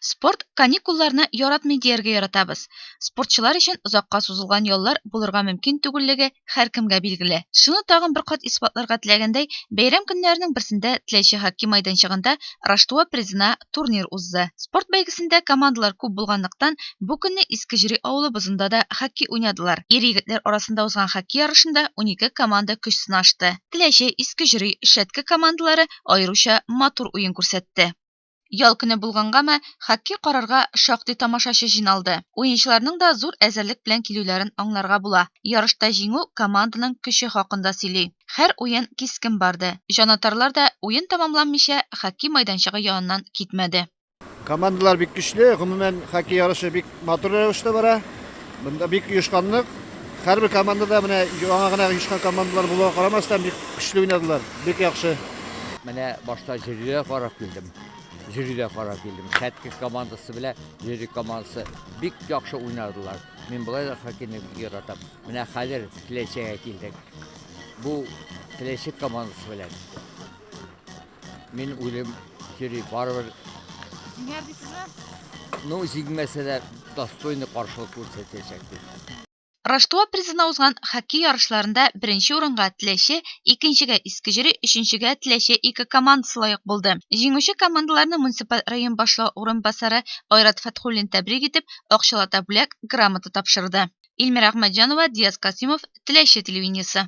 Спорт каникулларны яратмый дияргә яратабыз. Спортчылар өчен озакка сузылган яллар булырга мөмкин түгеллеге һәркемгә билгеле. Шуны тагын бер кат исбатларга теләгәндәй, бәйрәм көннәренең берсендә Теләче хоккей майданчыгында Раштуа призына турнир узды. Спорт бәйгесендә командалар күп булганлыктан, бу көнне Иске Җөри авылы бозында да хоккей уйнадылар. Ир-егетләр арасында узган хоккей ярышында унике команда көч сынашты. Теләче, Иске Җөри, Шәтке командалары аеруча матур уен күрсәтте. Ял көне булгангамы, хоккей карарга шактый тамашачы җыйналды. Уенчыларның да зур әзерлек белән килүләрен аңларга була. Ярышта җиңү команданың көче хакында сөйли. Хәр уен кискен барды. Җанатарлар да уен тәмамланмыйча хоккей майданчыгы яныннан китмәде. Командалар бик көчле, гомумән, хоккей ярышы бик Матур рәвештә бара. Монда бик оешканлык. Һәрбер командада менә яңа гына оешкан командалар булуга карамастан бик көчле уйнадылар. Бик яхшы. Менә башта жюригә карап килдем. Жюригә карап килдем. Хәтки командасы белән жюри командасы бик яхшы уйнадылар. Мин болай да хоккейны бик яратам. Менә хәзер Теләчегә килдек. Бу Теләчек командасы белән Мин уйлыйм, йөри, барыбер. Җиңәр дисезме? Ну, җиңмәсә дә достойный каршылык күрсәтәчәк дип. Раштуа призына узган хоккей ярышларында беренче урынга Теләче, икенчегә Искеҗөри, өченчегә Теләче ике командасы лаек булды. Җиңүче командаларны муниципаль район башлыгы урынбасары Айрат Фәтхуллин тәбрик итеп, акчалата бүләк, грамота тапшырды. Ильмира Әхмәтҗанова, Диас Касыймов, Теләче телевидениесе.